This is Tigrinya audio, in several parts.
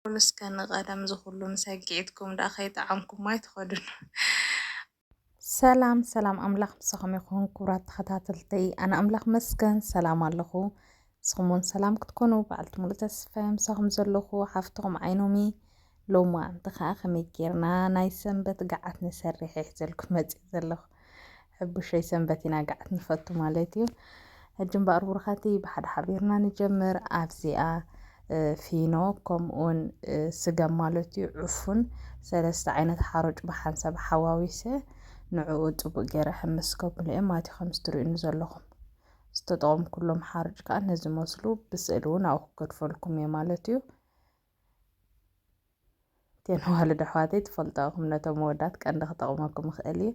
በሉ እስከ ንቀደም ዝኹሉ ምሰግዒትኩም ደኣ ከይጠዓምኩሞ ኣይትኸዱን። ሰላም ሰላም ኣምላኽ ምሳኹም ይኹን ክቡራት ተኸታተልተይ፣ ኣነ ኣምላኽ መስገን ሰላም ኣለኹ። ንስኹም እውን ሰላም ክትኮኑ በዓልቲ ሙሉእ ተስፋ ምሳኹም ዘለኹ ሓፍትኹም ዓይኖሚ ሎማ እንተ ከዓ ከመይ ጌርና ናይ ሰንበት ገዓት ንሰርሕ ሒዘልኩም መፅእ ዘለኹ ሕቡሸይ ሰንበት ኢና ገዓት ንፈቱ ማለት እዩ ሕጂ እምበኣር ብሩኻቲ ብሓደ ሓቢርና ንጀምር ኣብዚኣ ፊኖ ከምኡውን ስገም ማለት እዩ ዕፉን ሰለስተ ዓይነት ሓሮጭ ብሓንሳብ ሓዋዊሰ ንዕኡ ፅቡቅ ገይረ ሕምስ ከብሎ እየ ማለት እዩ ከምዚ ትርእዩኒ ዘለኹም ዝተጠቐምኩሎም ሓሮጭ ከዓ ነዚ መስሉ ብስእሊ እውን ኣብኡ ክገድፈልኩም እየ ማለት እዩ እተን ኣዋልድ ኣሕዋተይ ትፈልጣኦ ኢኹም ነቶም ኣወዳት ቀንዲ ክጠቕመኩም ይኽእል እዩ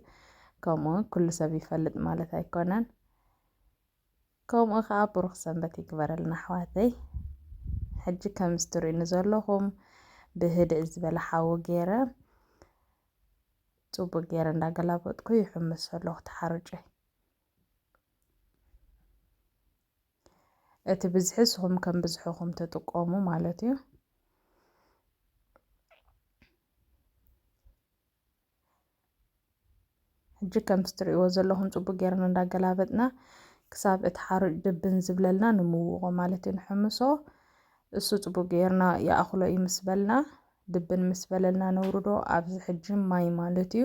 ከምኡ ኩሉ ሰብ ይፈልጥ ማለት ኣይኮነን ከምኡ ከዓ ብሩኽ ሰንበት ይግበረልና ኣሕዋተይ ሕጂ ከም ዝትርእኒ ዘለኹም ብህድእ ዝበለ ሓዊ ገይረ ፅቡቅ ገይረ እንዳገላበጥኩ ይሕምስ ኣለኹ ተሓርጨይ እቲ ብዝሒ ንስኹም ከም ብዝሕኹም ትጥቀሙ ማለት እዩ። ሕጂ ከምቲ ትርእይዎ ዘለኹም ጽቡቅ ጌርና እንዳገላበጥና ክሳብ እቲ ሓሩጭ ድብን ዝብለልና ንምውቆ ማለት እዩ ንሕምሶ እሱ ጽቡቅ ጌርና ይኣኽሎ እዩ ምስ በልና ድብን ምስ በለልና ነውርዶ ኣብዚ ሕጂ ማይ ማለት እዩ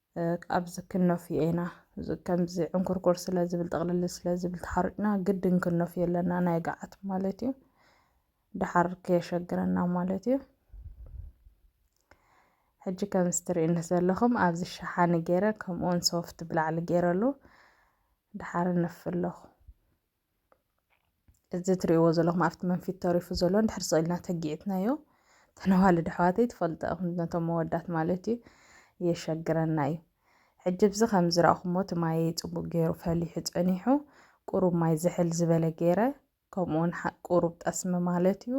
ኣብዚ ክኖፍዮ ኢና ከምዚ ዕንኩርኩር ስለ ዝብል ጥቕልል ስለ ዝብል ተሓሪቅና ግድን ክኖፍዮ ኣለና ናይ ገዓት ማለት እዩ ደሓር ከየሸግረና ማለት እዩ ሕጂ ከም ስትርእኒ ዘለኹም ኣብዚ ሸሓኒ ገይረ ከምኡውን ሶፍት ብላዕሊ ገይረሉ ደሓር ነፍለኹ እዚ ትሪእዎ ዘለኹም ኣብቲ መንፊት ተሪፉ ዘሎ እንድሕር ስኢልና ተጊዕትናዮ ተነዋልድ ኣሕዋተይ ትፈልጡ ኢኹም ነቶም መወዳት ማለት እዩ የሸግረና እዩ ሕጂ ብዚ ከም ዝረእኹሞ እቲ ማየ ፅቡቅ ገይሩ ፈሊሑ ፀኒሑ ቁሩብ ማይ ዝሕል ዝበለ ገይረ ከምኡውን ቁሩብ ጠስሚ ማለት እዩ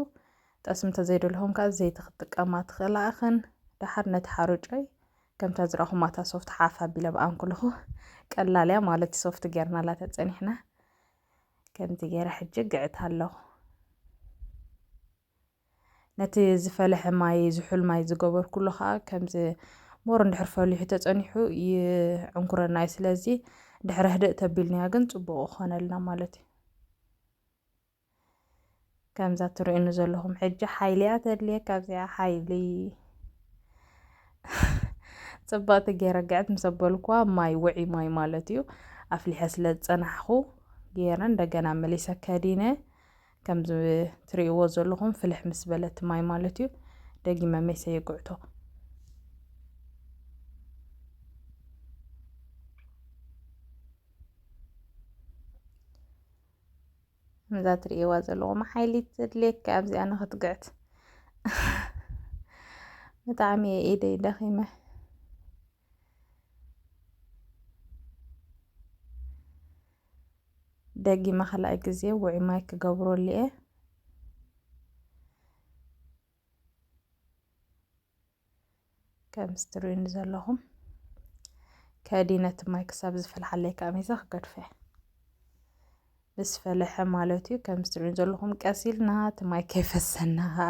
ጠስሚ እንተዘይደልኹም ከዓ ዘይቲ ክትጥቀማ ትኽእላ እኽን ደሓር ነቲ ሓሩጨይ ከምታ ዝረኹማ እታ ሶፍት ሓፍ ኣቢለ ብኣን ኩልኹ ቀላል እያ ማለት ሶፍት ጌርናላ ተጸኒሕና ከምቲ ገይረ ሕጂ ግዕት ኣለኹ ነቲ ዝፈለሐ ማይ ዝሑል ማይ ዝገበርኩሉ ከዓ ከምዚ ሞር እንድሕር ፈሊሑ ተጸኒሑ ይዕንኩረና እዩ ስለዚ ድሕሪ ህድእ ተቢልናዮ ግን ጽቡቕ ይኾነልና ማለት እዩ ከምዛ ትርእዩኒ ዘለኹም ሕጂ ሓይሊ እያ ተድልየካ ኣብዚኣ ሓይሊ ፅብቕቲ ገይረ ግዕት ምስ ኣበልኩዋ ማይ ውዒ ማይ ማለት እዩ ኣፍሊሐ ስለ ዝፀናሕኩ ገይረ እንደገና መሊሰ ከዲነ ከምዚ ትርእይዎ ዘለኹም ፍልሕ ምስ በለት ማይ ማለት እዩ ደጊመ መሰ የግዕቶ እዛ ትርእይዋ ዘለኹም ሓይሊ ትድልየካ ኣብዚኣ ንኽትግዕት ብጣዕሚ እየ ኢደይ ደኺመ ደጊመ ካልኣይ ግዜ ውዒ ማይ ክገብረሉ እየ ከምዚ ትርእዩኒ ዘለኹም ከዲ ነቲ ማይ ክሳብ ዝፈልሓለይ ከዓ ሚዛ ክገድፈ ምስ ፈለሐ ማለት እዩ ከምዚ ትርእዩኒ ዘለኹም ቀስ ኢልና እቲ ማይ ከይፈሰና ከዓ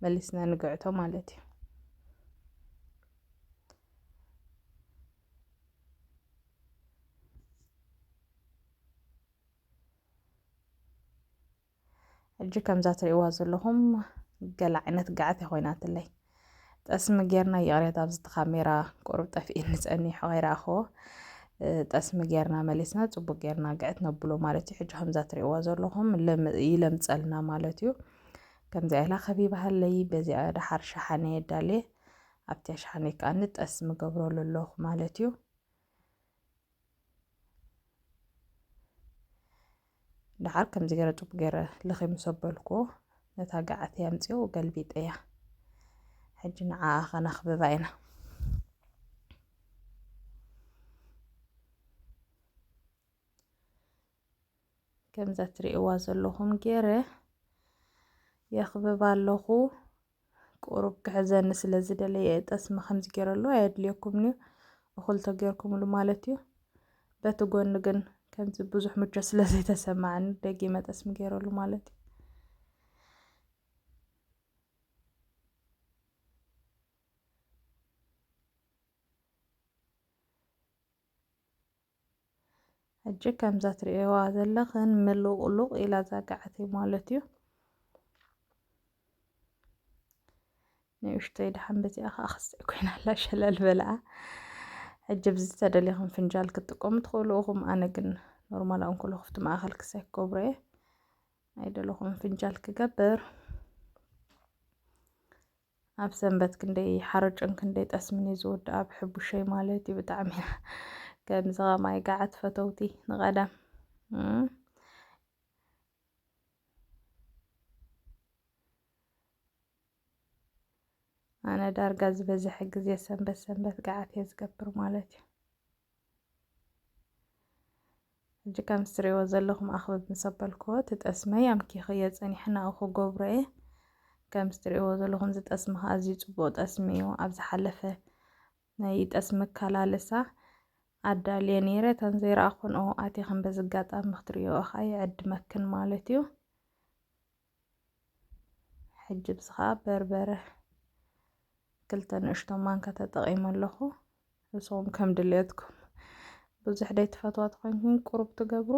መሊስና ንግዕቶ ማለት እዩ ሕጂ ከምዛ ትርእይዋ ዘለኹም ገለ ዓይነት ጋዕት ኮይናትለይ ጠስሚ ጌርና ይቕሬታ ኣብዚ ካሜራ ቁሩብ ጠፍኤኒ ጸኒሑ ከይረኣኽዎ ጠስሚ ጌርና መሊስና ጽቡቅ ጌርና ግዕት ነብሎ ማለት እዩ ሕጂ ከምዛ ትርእይዋ ዘለኹም ይለምጸልና ማለት እዩ ከምዚ ኢላ ከቢባሃለይ በዚኣ ደሓር ሸሓነ የዳልየ ኣብቲያ ሸሓነ ከዓኒ ጠስሚ ገብረሉ ኣለኹ ማለት እዩ ደሓር ከምዚ ገረ ጡብ ገረ ልኺ ምስ ኣበልኩዎ ነታ ገዓተይ ኣምጺኦ ገልቢጠያ ሕጂ ንዓኣ ከነኽብባ ኢና ከምዛ ትርእይዋ ዘለኹም ገረ የኽብባ ኣለኹ ቁሩብ ክሕዘኒ ስለ ዝደለየ እየ ጠስሚ ከምዚ ገይረሉ ኣየድልየኩምን እዩ እኹል ተገይርኩምሉ ማለት እዩ በቲ ጎኒ ግን ከምዚ ብዙሕ ምቾ ስለ ዘይተሰማዕኒ ደጊመ ጠስሚ ገይረሉ ማለት እዩ ሕጂ ከምዛ ትርእየዋ ዘለኽን ምሉቕሉቕ ኢላ ዛጋዓት እዩ ማለት እዩ ንእሽተይ ድሓን በዚኣ ከዓ ክስዕ ኮይና ኣላ ሸለል በልኣ ሕጂ ብዚ ተደሊኹም ፍንጃል ክትጥቀሙ ትኽእሉ ኢኹም ኣነ ግን ኖርማል ኣንኮሎ ክፍቲ ማእኸል ክሳይ ክገብሮ እየ ኣይደለኹም ፍንጃል ክገብር ኣብ ሰንበት ክንደይ ሓርጭን ክንደይ ጠስምን እዩ ዝውድኣ ብሕቡሸይ ማለት እዩ ብጣዕሚ ከምዚ ኸማይ ገዓት ፈተውቲ ንቐዳም ኣነ ዳርጋ ዝበዝሐ ግዜ ሰንበት ሰንበት ገዓት እየ ዝገብር ማለት እዩ ሕጂ ከምዚ ትርእይዎ ዘለኹም ኣኽብብ ምስ ኣበልክዎ እቲ ጠስመ ኣምኪኽዮ ጸኒሐና ኣብኡ ክገብሮ እየ ከምዚ ትርእይዎ ዘለኹም እዚ ጠስሚ ከዓ ኣዝዩ ጽቡቕ ጠስሚ እዩ ኣብ ዝሓለፈ ናይ ጠስሚ ኣከላልሳ ኣዳልየ ነይረ እተን ዘይረኣኹን ኦ ኣቲኽን በዚ ኣጋጣሚ ክትርእዮ ከዓ ይዕድመክን ማለት እዩ ሕጂ ብዚ ከዓ በርበረ ክልተ ንእሽቶ ማንካ ተጠቒመ ኣለኹ ንስኹም ከም ድልየትኩም ብዙሕ ደይ ትፈትዋ ትኾንኩም ቁሩብ ትገብሩ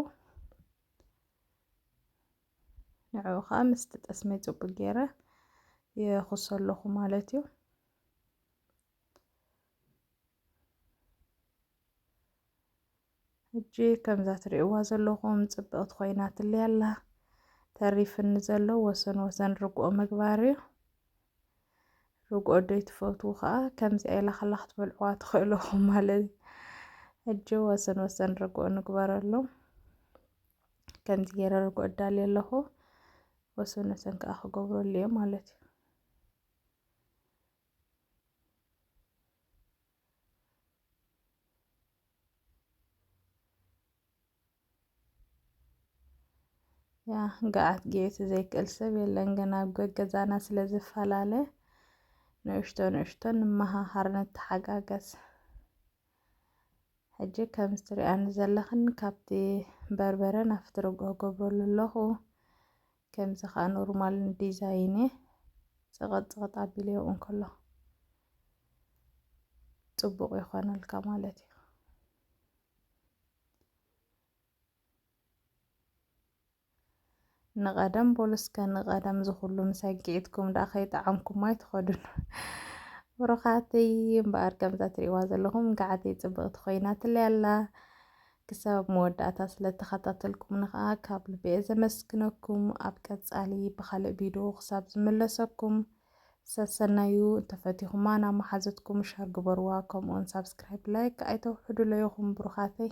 ንዕኡ ከዓ ምስቲ ጠስመይ ፅቡቅ ገይረ የኹሶ ኣለኹ ማለት እዩ ሕጂ ከምዛ ትሪእዋ ዘለኹም ጽብቕቲ ኮይናትለይ ኣላ። ተሪፍኒ ዘሎ ወሰን ወሰን ርግኦ ምግባር እዩ። ርግኦ ዶይ ትፈትዉ ከዓ ከምዚኣ ኢላ ከላ ክትበልዕዋ ትኽእለኹም ማለት እዩ። ሕጂ ወሰን ወሰን ርግኦ ንግበረሎም። ከምዚ ገይረ ርግኦ እዳልየ ኣለኹ ወሰን ወሰን ከዓ ክገብረሉ እየ ማለት እዩ ገዓት ጌት ዘይክእል ሰብ የለን ግን ኣብ ገገዛና ስለ ዝፈላለ ንእሽቶ ንእሽቶ ንመሃሃር ንተሓጋገዝ ሕጂ ከም ዝትሪኣኒ ዘለኽን ካብቲ በርበረ ናፍቲ ርጎ ገብረሉ ኣለኹ ከምዚ ከኣ ኖርማል ዲዛይን እየ ጸቐጥ ጸቐጥ ኣቢለዮ እንከሎ ጽቡቕ ይኾነልካ ማለት እዩ። ንቐደም በሉ እስከ ንቐደም ዝኹሉ ምሰጊዕትኩም ደኣ ከይጠዓምኩም ኣይትኸዱን ብሩኻተይ እምበኣር ከምዛ ትሪእዋ ዘለኹም ገዓተይ ጽብቕቲ ኮይና ትለይ ኣላ ክሳብ ኣብ መወዳእታ ስለ ተኸታተልኩምኒ ከኣ ካብ ልቢ'የ ዘመስግነኩም። ኣብ ቀጻሊ ብኻልእ ቪድዮ ክሳብ ዝምለሰኩም ሰሰናዩ። እንተፈቲኹማ ናብ መሓዙትኩም ሸር ግበርዋ ከምኡውን ሳብስክራይብ ላይክ ኣይተውሕዱለይ ኢኹም ብሩኻተይ።